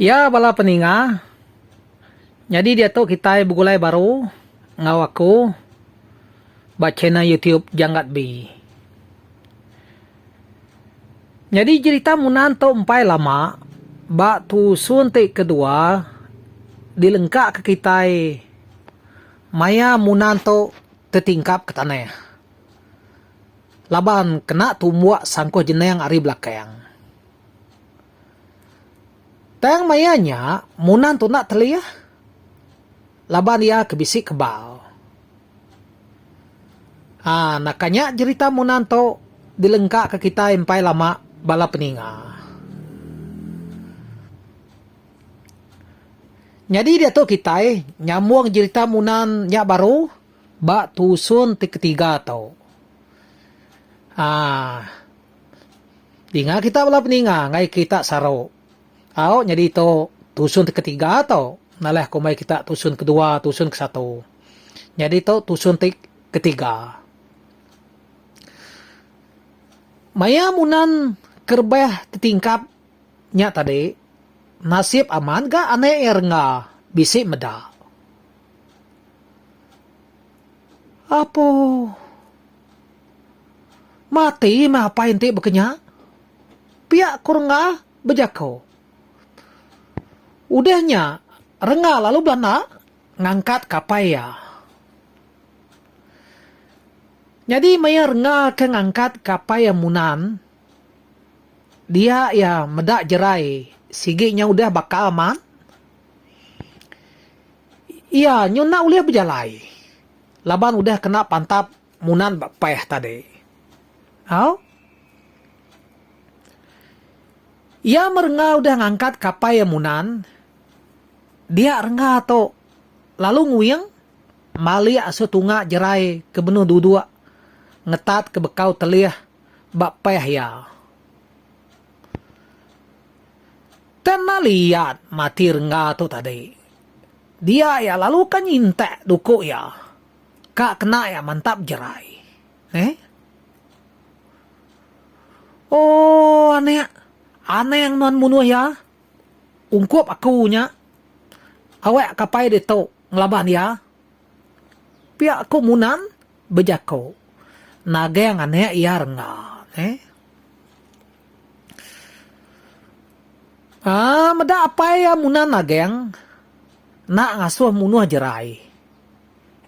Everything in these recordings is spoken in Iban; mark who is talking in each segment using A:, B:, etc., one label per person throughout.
A: Iya bala peninga, nyadi diatu kitai begulai baru enggau aku ba channel YouTube Janggat Bee. Nyadi jerita Munan tu empai lama ba tusun ti kedua dilengkaka kitai maya Munan tu tetingkap ke tanah. Laban kena tumbuk sangkuh jening ari belakang. Tang maya nya, Munan tu enda telih laban iya ke bisi kebal. Ha, naka nya jerita Munan tu dilengkaka kitai empai lama bala peninga. Nyadi diatu kitai nyambung jerita Munan nya baru. Ba tusun ti ketiga tu. Haa. Dinga kita bala peninga ngaii kita saru. Au nyadi tu tusun ti ketiga tu nalai kumbai kita tusun kedua tusun ke satu. Nyadi tu tusun ti ketiga. Maya munan kerebah tetingkap nya tadi nasib amat ga anak iya rengga bisi meda. Apo. Mati meh apai enti bekenya. Pia ku rengga bejako. Udah nya rengga lalu belanda ngangkat ke apai iya. Nyadi maya rengga ke ngangkat ke apai iya munan dia iya meda jerai sigi nya udah baka amat. Iya nyu enda ulih bejalai laban udah kena pantap munan ba peh tadi. Au. Iya merengga udah ngangkat kapai iya munan dia rengga tu lalu nguing malik asu tunga jerai ke benung duduk ngetat ke bekau telih ba peh iya. Tang nali iat mati rengga tu tadi. Dia ia lalu ka nyintak duku ia. Ka kena ia mantap jerai. Neh. Ooh anak. Anang nuan munuh ia. Ungkup aku nya. Awak kapai ditu ngelaban ia. Pia aku munan bejako nagang anek iya rengga neh. Aa meda apai iya munan nagang enda ngasoh munoh jerai.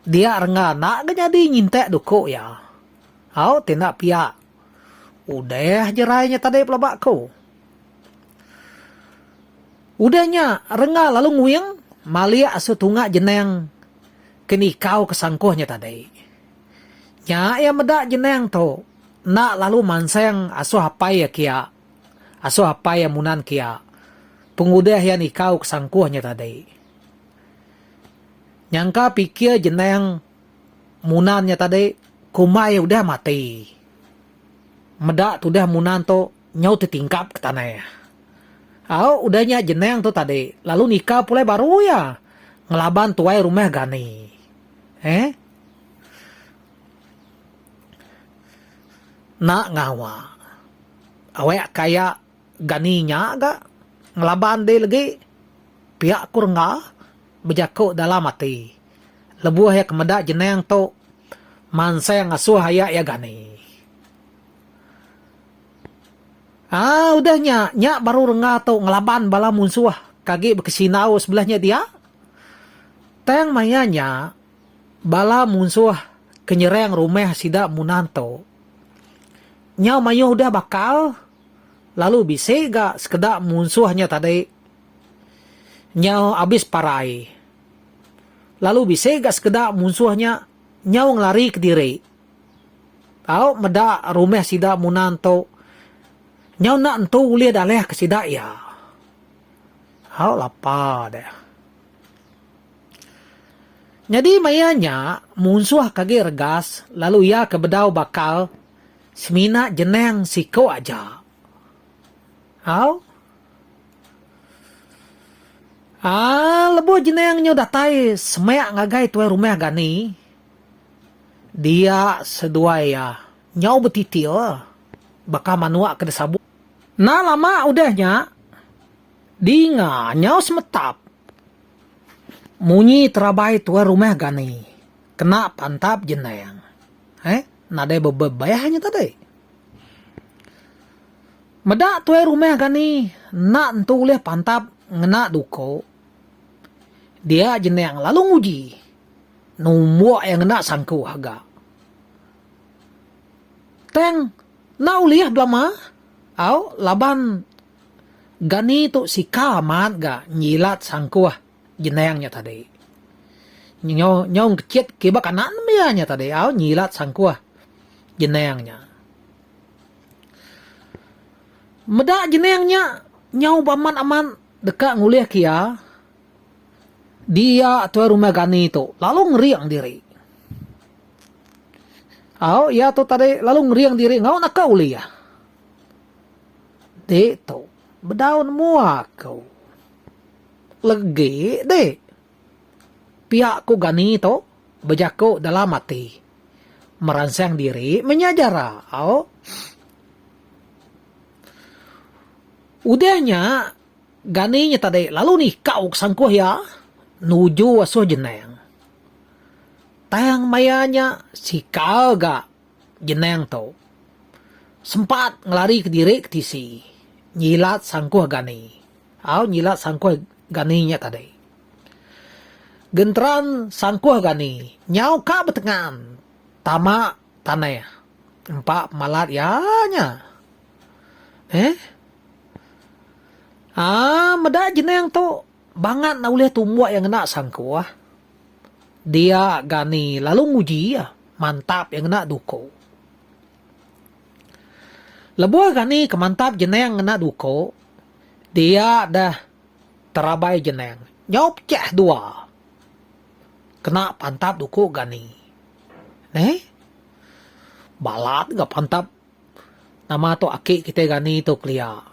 A: Dia rengga enda ga nyadi nyintak duko iya. Au ti enda pia. Udah jerai nya tadi pelaba ko. Udah nya rengga lalu nguing malik asu tunga jenang. ke nikau ke sangkuh nya tadi. Nya iya meda jenang tu enda lalu mansang asuh apai iya kia, asuh apai iya munan kia pengudah iya nikau ke sangkuh nya tadi. Nyangka pikir jenang munan nya tadi kumbai udah mati. Meda tudah munan tu Nyau ti tingkap ke tanah iya. Au, udah nya jenang tu tadi, lalu nikah pulai baru iya. Ngelaban tuai rumah Gani. Eh? Nak ngawa. Awak ka iya Gani nya ga. Ngelaban dih legi. Pia ku rengga. Bejaku dalam ati. Lebuh iya ke meda jenang tu, mansang asoh aya iya Gani. Aa udah nya, nya baru rengga tu ngelaban bala munsuh ke agi bekesindau sebelah nya dia. Tang maya nya, bala munsuh ke nyerang rumah sida Munan tu, nyau mayuh udah bakal lalu bisi ga sekeda munsuh nya tadi nyau abis parai. Lalu bisi ga sekeda munsuh nya nyau ngelari kediri. Tau meda rumah sida muna entu. Nyau enda entu ulih daleh ke sida iya. Au lapa deh. Nyadi maya nya munsuh ke agi regas lalu iya ke bedau bakal semina jenang siku aja. Au. Aa lebuh jenang nyau datai semak ngagai tuai rumah Gani. Dia seduai iya nyau betitir baka manua ke disabut. Enda lama udah nya, dinga nyau semetap munyi terabai tuai rumah Gani kena pantap jenang. Heh, nadai bebebeh nya tadi. Meda tuai rumah Gani enda nentu ulih pantap ngena duko, dia jenang lalu nguji. Numbuk iya ngena sangku haga. Tang enda ulih belama au laban Gani tu sika amat ga nyilat sangku jenang nya tadi. Nyau nyau kecit kiba kanak nembiak nya tadi au nyilat sangku jenang nya. Meda jenang nya nyau ba amat-amat deka ngulih ke iya. Dia tuai rumah Gani tu lalu ngering diri. Au iya tu tadi lalu ngering diri enggau naka ulih. Dik tu bedaun mua aku. Legi dik. Pia ku Gani tu bejaku dalam ati. Meransang diri menya jara. Au. Udah nya. Gani nya tadi lalu nikau ke sangkuh iya nuju asuh jenang. Tang maya nya sikal ga jenang tu sempat ngelari kediri ke tisi nyilat sangkuh Gani au nyilat sangkuh Gani nya tadi. Genteran sangkuh Gani nyau ka betengan tama tanah empa pemalat iya nya. Heh. Aa meda jeneng tu bangat enda ulih tumbuk iya ngena sangkuh. Dia Gani lalu nguji iya mantap iya ngena duku. Lebuh Gani ke mantap jeneng ngena duku, dia deh terabai jeneng nyau pecah dua kena pantap duku Gani. Neh. Balat ga pantap. Nama tu aki kitai rani tu kelia.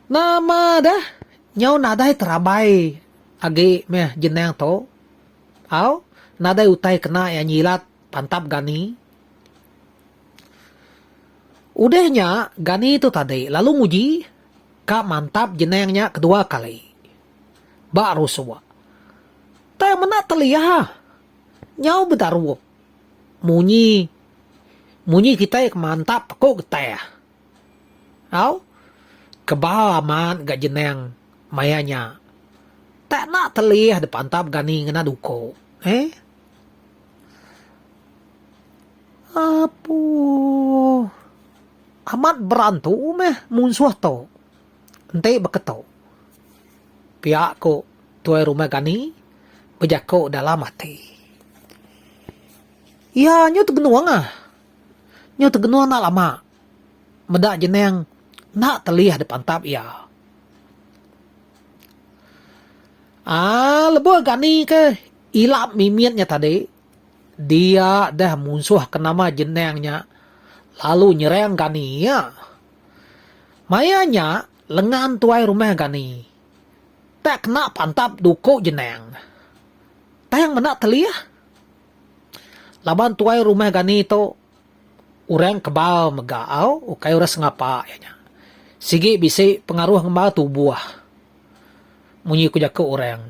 A: Nama dah nyau nadai terabai agi meh jenang tu. Au nadai utai kena iya nyilat pantap Gani. Udah nya Gani tu tadi lalu nguji ka mantap jenang nya kedua kali. Ba rusuk. Tang mena telia nyau bedarup. Munyi. Munyi kitai ke mantap ko getah. Au. Kebal amat ga jenang maya nya. Tak na telih de pantap gani ngena duko. Eeh. Apuuh. Amat berantu meh munsuh to. enti beketu pia ku tuai rumah Gani bejaku dalam ati. Iya nyu tegenung ah. Nyu tegenung enda lama meda jenang enda telih dipantap iya. Aaa lebuh Gani ke ila mimit nya tadi dia deh munsuhka nama jenang nya lalu nyerang Gani iya. Maya nya lengan tuai rumah Gani tak kena pantap duku jenang tang meda telih. Laban tuai rumah Gani tu orang kebal mega au ukai orang sengapa iya nya. Sigi bisi pengaruh ngembar tubuh munyi ku jaku orang.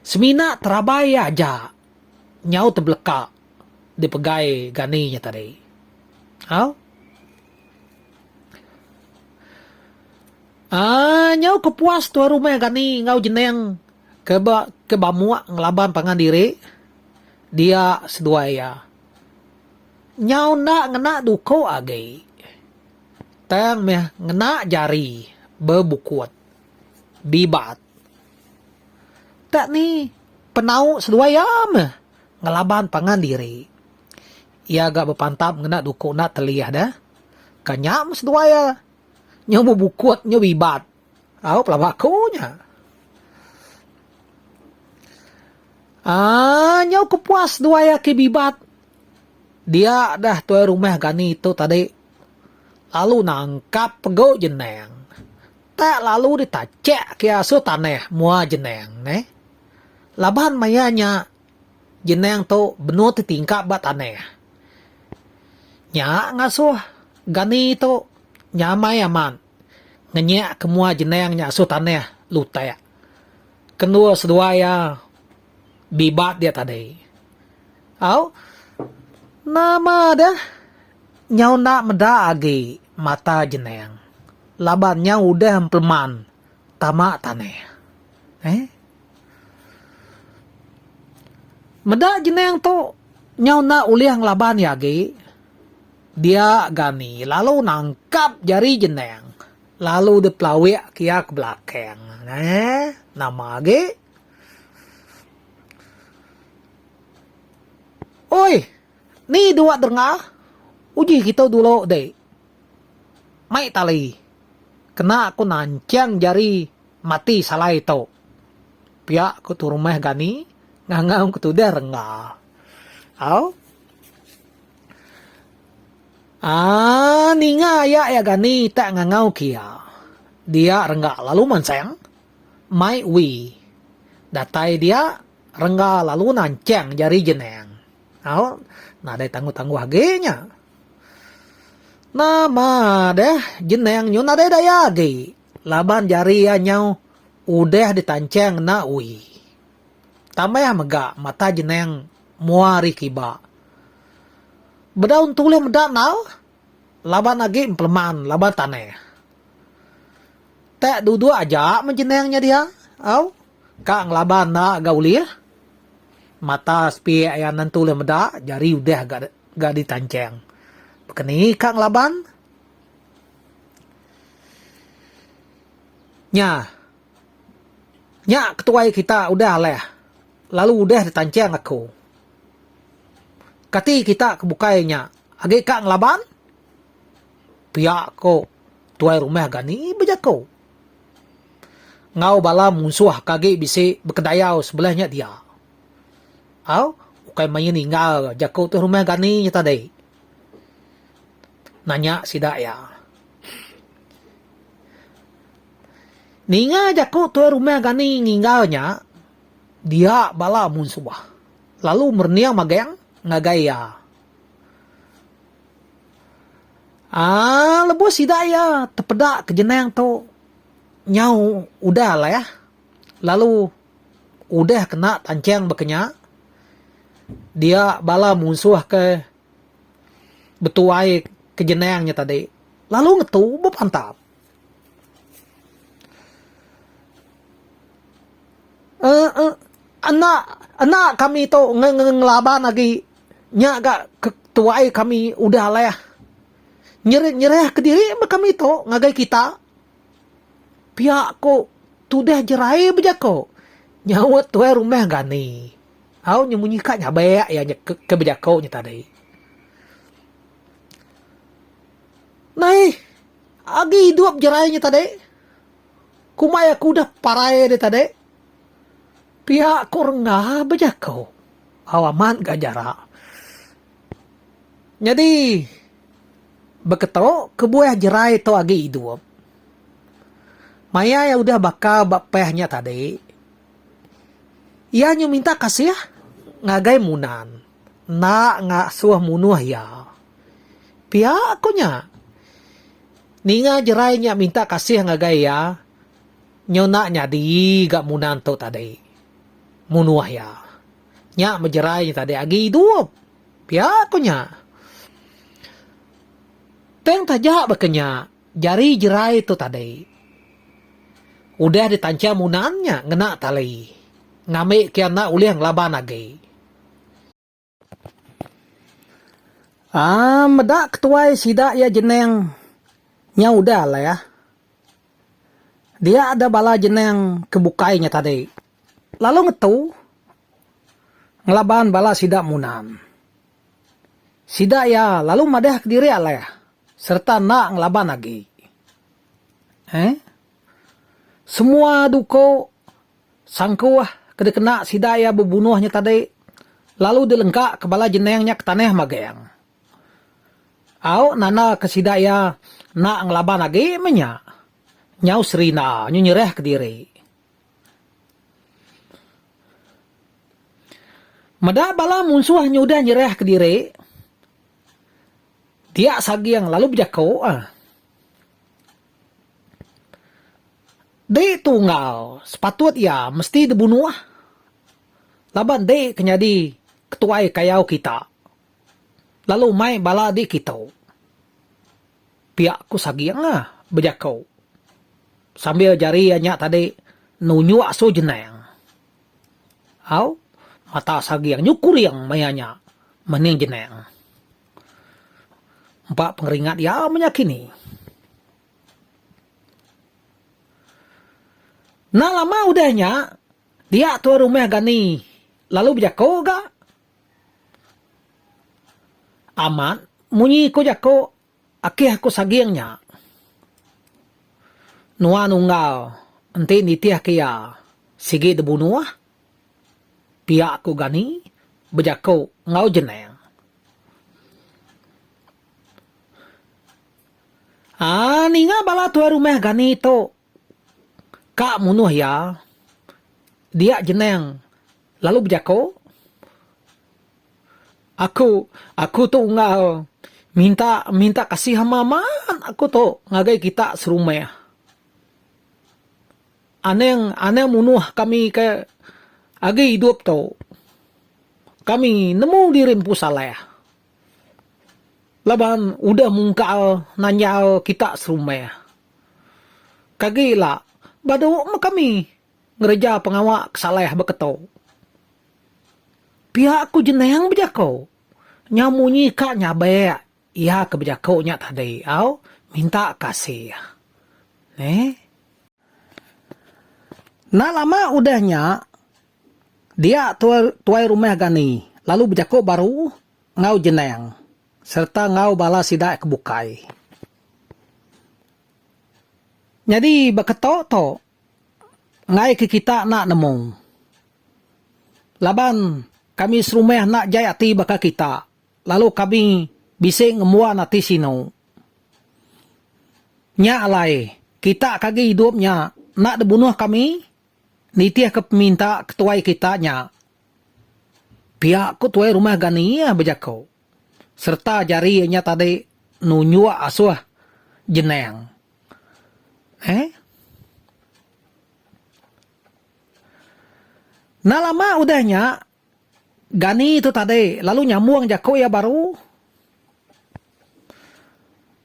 A: Semina terabai iya aja. nyau tebeleka dipegai Gani nya tadi. Au. Aa nyau ke puas tuai rumah Gani enggau Jeneng ke ba ke bamuk ngelaban pangan diri dia seduai iya. Nyau enda ngena duko agi tang meh ngena jari bebukut. Bibat. Dak ni, penau seduai iya meh ngelaban pangan diri. Iya ga bepantap ngena duku enda telih deh. Ka nya meh seduai iya nyau bebukut nyau bibat. Au pelaba aku nya. Aaa nyau ke puas seduai iya ke bibat. Diak deh tuai rumah gani tu tadi lalu nangkap pegu jenang. Tak lalu ditachak ke asu tanah mua jenang ne. Laban maya nya jenang tu benung ti tingkap ba tanah. Nya ngasuh Gani tu nyamai amat ngenyak ke mua jenang nya asu tanah lutak ke endur seduai iya bibat dia tadi. Au, nama deh nyau enda meda agi. Mata jeneng. Laban nya udah empeleman tama tanah. Eh. Meda jeneng tu nyau enda ulih ngelaban iya agi. Dia Gani lalu nangkap jari jeneng lalu dipelawik ke iya ke belakang. Eh. Nama agi. Oi. Ni dua derengah uji kitu dulu dek. Mai tali. Kena ku nanchang jari mati salai tu. Pia ku turumah Gani ngangau ke tudah rengga. Au. Aa ninga aya ya Gani tak ngangau ke ya. Dia rengga lalu mansang. Mai wi. Datai dia rengga lalu nanchang jari jenang. Au nadai tangguh-tangguh agi nya. Nama deh jeneng nyu nadai daya agi laban jari iya nyau udah ditancheng enda ui. Tambah mega mata jeneng mua ari kiba. Bedau entu ulih meda endau laban agi empeleman laban tanah. Tak duduk aja meh jeneng nya diha au. Ka ngelaban enda ga ulih. Mata sepiak iya nentu ulih meda jari udah ga ditanchang. Bekeni ka ngelaban? Nya. Nya ketuai kita udah alah lalu udah ditanchang aku. Kati kita ke bukai nya agi ka ngelaban? Pia ko tuai rumah ga ni bejaku. Enggau bala munsuh ke agi bisi bekedayau sebelah nya dia. Au, ukai mayuh ninggal ga jaku tu rumah Gani nya tadi. Nanya sida iya. Ninga jaku tuai rumah Gani ninggal nya, dia bala munsuh lalu merening magang ngagai iya. Aaa lebuh sida iya tepeda ke jenang tu nyau udah leh lalu udah kena tancheng baka nya dia bala munsuh ke betuai ke jenang nya tadi lalu ngetu bepantap. Aaa enda enda kami tu nge nge ngelaban agi. Nya ga ke tuai kami udah alai nyerah ke diri ba kami tu ngagai kita. Pia ku tudah jerai bejaku nyaut tuai rumah Gani. Au nyemunyi ka nyabek iya ke bejaku nya tadi. Nai agi idup jerai nya tadi. Kumbai aku udah parai dia tadi. Piak ku rengga bejaku, au amat ga jarak. Nyadi beketo kebuah jerai to agi idup. Mayai udah baka ba peh nya tadi, iya nyu minta kasih ngagai munan enda ngasuh munuh iya. Piak ku nya. Ninga jerai nya minta kasih ngagai iya. Nyau enda nyadi ga munang tu tadi. Munuh iya. Nya mejerai nya tadi agi idup. Pia ku nya. Tang taja baka nya, jari jerai tu tadi. Udah ditanchang munang nya ngena tali. Ngambika iya enda ulih ngelaban agi. Aaa meda ke tuai sida iya jeneng nyau udah lah ya. Dia ada bala jeneng ke bukai nya tadi. Lalu ngetu ngelaban bala sida munan. Sida iya lalu madah ke diri alai serta enda ngelaban agi. Heh. Semua duko Sangkuh ke dikena sida iya bebunuh nya tadi lalu dilengkaka bala jening nya ke tanah Mageng. Au nandaka sida iya enda ngelaban agi meh nya. Nyau Serina nyu nyerahka diri. Meda bala munsuh nyu udah nyerahka diri, Diak Saging lalu bejaku, Dei tu enggal sepatut iya mesti dibunuh laban dei ke nyadi ketuai kayau kita lalu mai bala dikitu, pia ku Saging bejaku sambil jari iya nya tadi nunjuk Su Jenang. Au, mata Saging nyukuring maya nya mening Jenang. Empa pengeringat iya menya kini. Enda lama udah nya, dia tuan rumah Gani lalu bejako ga amat munyi ko jako akih aku saging nya. Nuan unggal enti nitih ke iya sigi dibunuh, pia ko Gani bejako enggau jenang. Haa ninga bala tuai rumah gani tu ka munuh iya dia jenang lalu bejako aku aku tu enggau minta minta kasih ama amat aku tu ngagai kita serumah anang anang munuh kami ke agi idup tu kami nemu diri empu salah. laban udah mungkal nanyal kita serumah. Kagi ila, badu meh kami ngereja pengawa ke salah ba keto. Pia ku Jenang bejako, nyau munyi ka nyabek iya ke bejako nya tadi au minta kasih. Neh. Enda lama udah nya, Dia tuai tuai rumah Gani lalu bejako baru enggau Jenang sereta enggau bala sida ke bukai. Nyadi ba keto to ngaika kita enda nemu. Laban kami serumah enda jai ati baka kita lalu kami bisi ngembuan ati sinu. Nya alai kita ke agi idup nya enda dibunuh kami Nitihka peminta ketuai kita nya, pia ku Tuai Rumah Gani iya bejaku sereta jari iya nya tadi nunjuk asuh jenang eh Enda lama udah nya, Gani tu tadi lalu nyambung jaku iya baru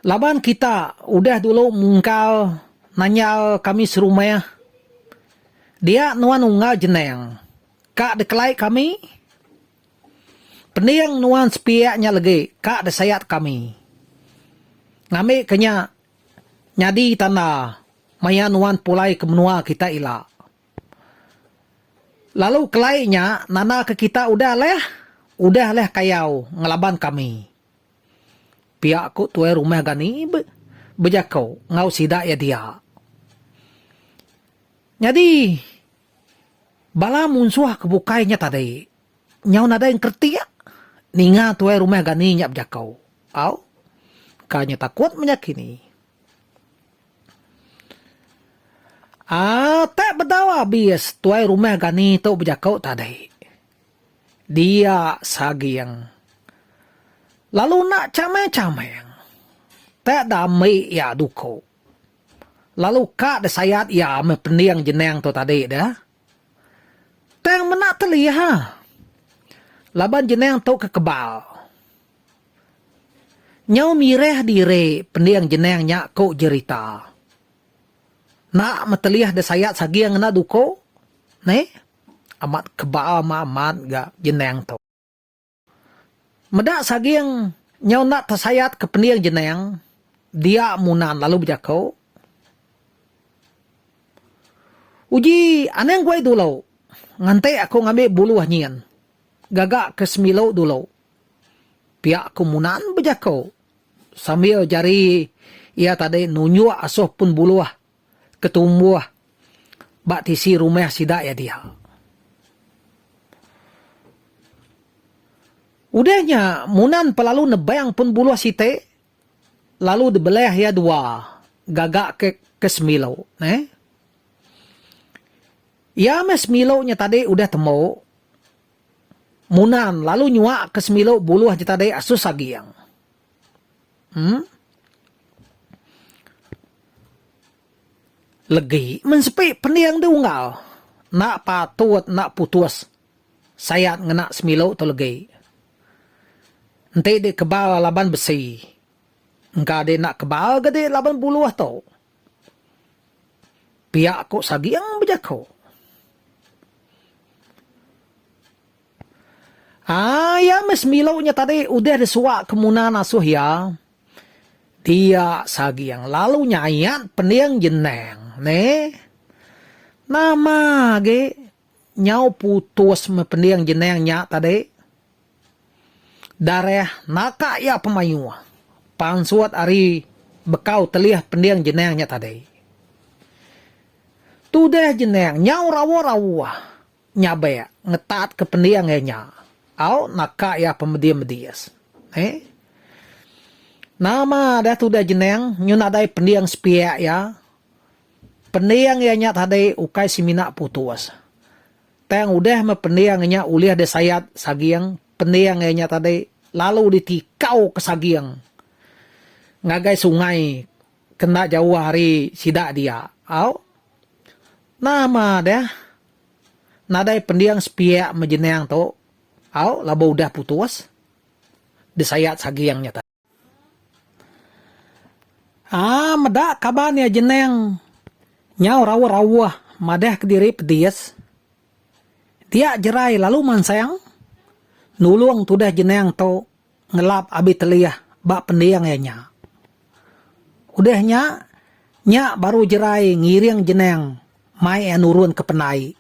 A: laban kita udah dulu mungkal nanyal kami serumah dia nuan unggal jenang ka dikelai kami pending nuan sepiak nya legi ka disayat kami ngambi ke nya nyadi tanda maya nuan pulai ke menua kita ila. Lalu kelai nya nanda ke kita udah leh udah leh kayau ngelaban kami. Pia ku tuai rumah Gani bejako enggau sida iya dia. Nyadi bala munsuh ke bukai nya tadi nyau nadai engkeretik ninga tuai rumah Gani nya bejako. Au ka nya takut menyakini. Atek bedau abis tuai rumah gani tu bejaku tadi. Dia saging. Lalu enda chameng-chameng. Tek da ambi iya duku. Lalu ka disayat iya meh pending jenang tu tadi deh. Tang mena telih. Laban jenang tu ke kebal. Nyau mirih diri pending jenang nya ku jerita. Enda metelih desayat saging enda duko neh amat kebal ma amat ga jenang tu. Meda saging nyau enda tesayat ke pending jenang dia munan lalu bejako. Uji anang guai dulo nganti aku ngambi buluh nyin gaga ke semilu dulo. Pia ku Munan bejako sambil jari iya tadi nunjuk asoh pun buluh ke tumbuh ba tisi rumah sida iya dia. Udah nya Munan pa lalu nebang pun buluh siti lalu dibelah iya dua gaga ke ke sembilu neh. Iya meh sembilu nya tadi udah tembu. Munan lalu nyuak ke semilu buluh jeta dek asus aging. Em. Legi men sepi pending de unggal. Enda patut enda putus sayat ngena semilu tu legi. Enti dikebal laban besi. Engka dek enda kebal ga dek laban buluh tu. Pia ko Saging bejako. Haa iya meh Semilo nya tadi udah disuak ke Munan asuh iya. Dia Saging lalu nyayat pening jenang neh. Nama agi nyau putus meh pening jenang nya tadi. Darah naka iya pemayuh pansut ari bekau telih pending jenang nya tadi. Tudah jenang nyau rawuh-rawuh nyabak ngetatka pending iya nya au naka iya pemedis-medis. He. Nama dah tudah jenang nyu nadai pending sepiak iya. Pending iya nya tadi ukai semina putus. Tang udah meh pending nya ulih disayat saging, pending iya nya tadi lalu ditikau ke saging ngagai sungai ke enda jauh ari sida dia. Au. Nah meh deh nadai pending sepiak meh jenang tu. Au laban udah putus disayat saging nya tadi. Aaa meda kaban iya jeneng nyau rauh-rauh madah kediri pedis. Dia jerai lalu mansang nulung tudah jeneng tu ngelap abi telih ba pending iya nya. Udah nya, nya baru jerai ngiring jeneng mai iya nurun ke pendai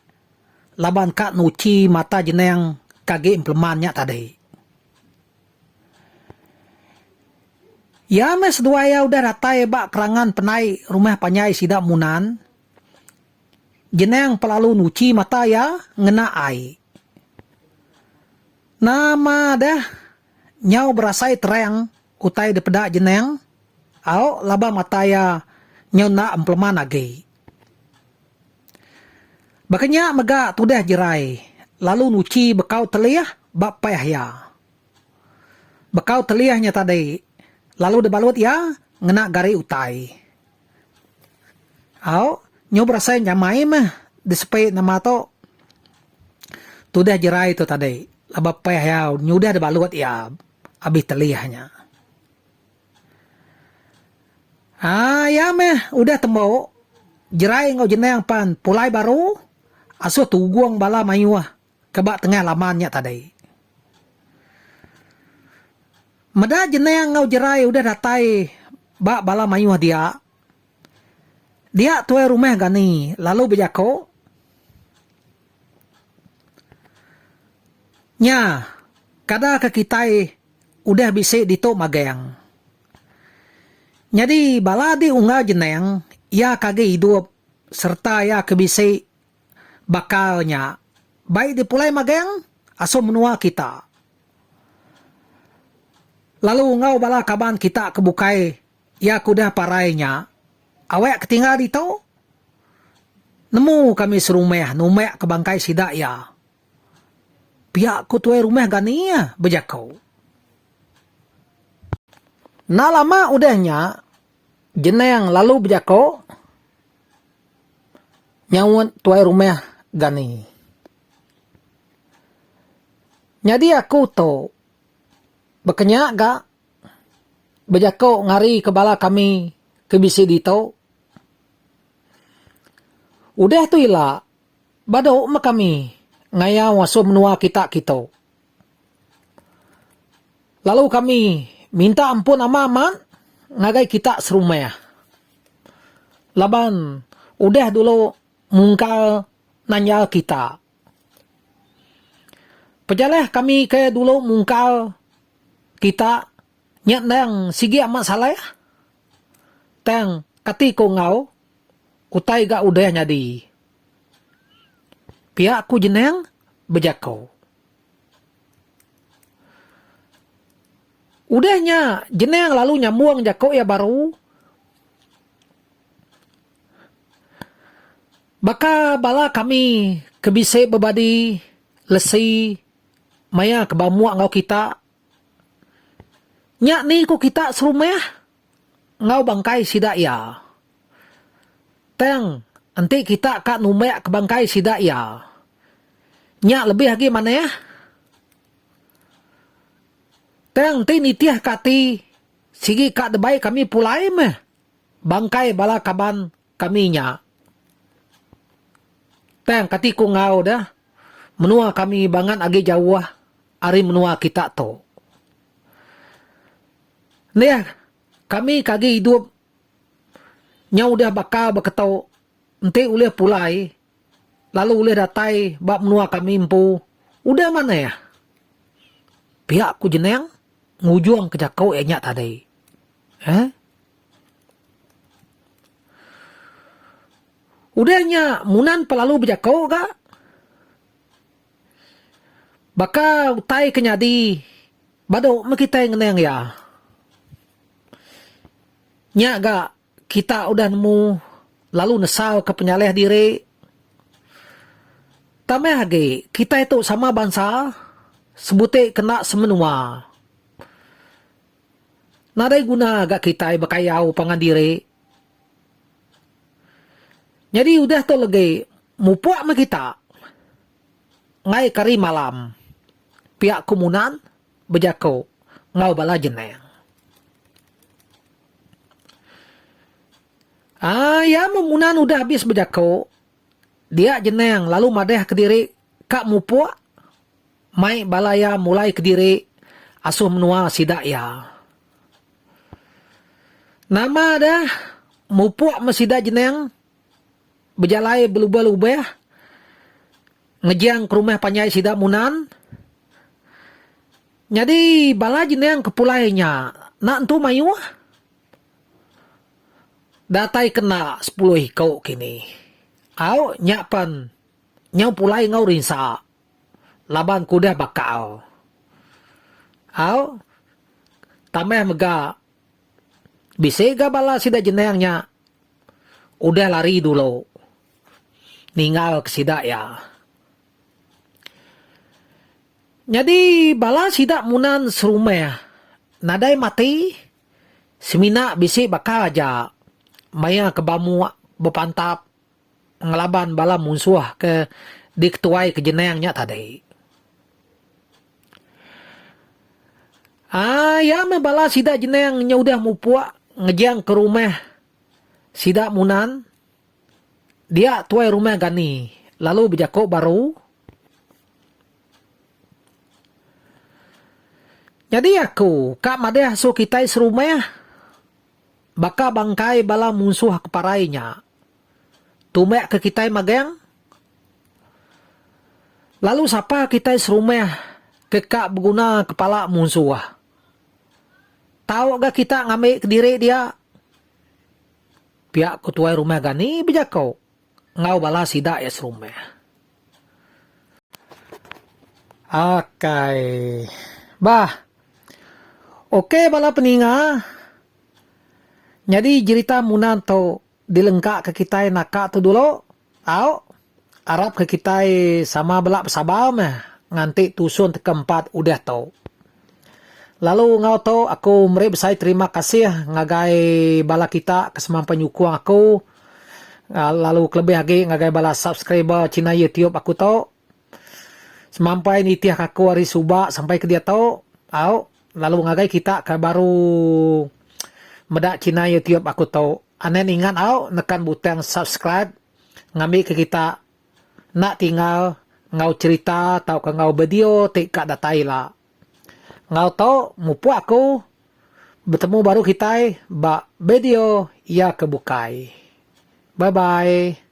A: laban ka nuchi mata jeneng ke agi empeleman nya tadi. Iya meh seduai iya udah datai ba perangan penai rumah panjai sida Munan, Genang pelalu nuchi mata iya ngena ai. Nama deh nyau berasai terang utai dipeda Genang, au laban mata iya nyau enda empeleman agi. Baka nya mega tudah jerai lalu nuchi bekau telih ba peh iya. Bekau telih nya tadi lalu dibalut iya ngena gari utai. Au, nyu berasai nyamai meh disepi nama tu tudah jerai tu tadi laban peh iya nyudah dibalut iya abih telih nya. Aa iya meh udah tembu jerai enggau jenang pan pulai baru asuh tugung bala mayuh ke ba tengah laman nya tadi. Meda jenang enggau jerai udah datai ba bala mayuh dia, dia tuai rumah Gani lalu bejaku, Nya, kada ke kitai. Udah bisi ditu magang. Nyadi bala adi unggal jenang iya ke agi idup sereta iya ke bisi bakal nya bai dipulai magang asu menua kita lalu enggau bala kaban kita ke bukai iya ke udah parai nya awak ke tinggal ditu nemu kami serumah numbakka bangkai sida iya. Pia ku tuai rumah Gani bejako. Enda lama udah nya, Jenang lalu bejako nyaut tuai rumah Gani. Nyadi aku tu baka nya ga bejako ngari ke bala kami ke bisi ditu. Udah tu ila. Badu meh kami ngayau asu menua kita kitu. Lalu kami minta ampun ama mat ngagai kita serumah. Laban udah dulu mungkal nanjal kita. Pejaleh kami ke dulu mungkal kita. Nya endang sigi amat salah. Tang kati ko enggau utai ga udah nyadi. Pia ku Jenang bejako. Udah nya Jenang lalu nyambung jako iya baru. Baka bala kami ke bisi bebadi lesi maya ke bamuk enggau kita Nya ni ku kita serumah enggau bangkai sida iya. Tang enti kita ka numbak ke bangkai sida iya, nya lebih agi manah. Tang enti nitih ke ati sigi ka debai kami pulai meh bangkai bala kaban. Kami nya. Tang kati ku enggau deh, menua kami bangat agi jauh ari menua kita tu. Neh, kami ke agi idup nyau udah baka beketu enti ulih pulai lalu ulih datai ba menua kami empu, udah manah. Pia ku Jenang ngujungka jaku iya nya tadi. Uhh. Udah nya Munan pelalu bejako ga baka utai ke nyadi badu meh kitai ngenang iya. Nya ga kita udah nemu lalu nesal ke penyalih diri tambah agi kitai tu sama bansa sebuti kena semenua. Nadai guna ga kitai bekayau pangan diri. Nyadi udah tu legi mupuk meh kita ngai ke hari malam piak ku Munan bejaku enggau bala jenang. Aa iya meh Munan udah abis bejaku. Dia Jenang lalu madah kediri ka mupuk mai bala iya mulai kediri asuh menua sida iya. Nama dah mupuk meh sida Jenang bejalai belubah-lubah ngejang ke rumah panjai sida Munan. Nyadi bala Jenang ke pulai nya enda entu mayuh. Datai kena sepuluh iku kini. Au nya pen nyau pulai enggau rinsa laban ku udah bakal. Au tambah mega bisi ga bala sida jenang nya udah lari dulu ninggal ke sida iya. Nyadi bala sida munan serumah nadai mati. Semina bisi baka aja maya ke bamuk bepantap ngelaban bala munsuh ke diketuai ke jenang nya tadi. Aaa iya meh bala sida jenang nya udah mupuk ngejang ke rumah sida Munan dia tuai rumah Gani lalu bejako baru. Nyadi aku ka madah su kitai serumah baka bangkai bala munsuh ke parai nya. Tumbak ke kitai magang lalu sapa kitai serumah ke ka beguna kepala munsuh. Tau ga kita ngambi kediri dia, pia ku tuai rumah Gani bejako enggau bala sida iya serumah. Akai. Bah. Ok bala peninga. Nyadi jerita Munan tu dilengka ke kitai naka tu dulu. Au. Arap ke kitai sama bela besabar meh nganti tusun teka empat udah tu. Lalu enggau tu aku meri besai terima kasih ngagai bala kita ke semampai nyukung aku lalu kelebih agi ngagai bala subscriber china YouTube aku tu semampai nitihka aku ari suba sampai ke diatu au lalu ngagai kita ke baru meda china YouTube aku tu anen ingat au nekan butang subscribe ngambika kita Enda tinggal enggau cherita tauka enggau bideo ti ka datai ila. Enggau tu mupuk aku betemu baru kitai ba bideo iya ke bukai. Bye bye.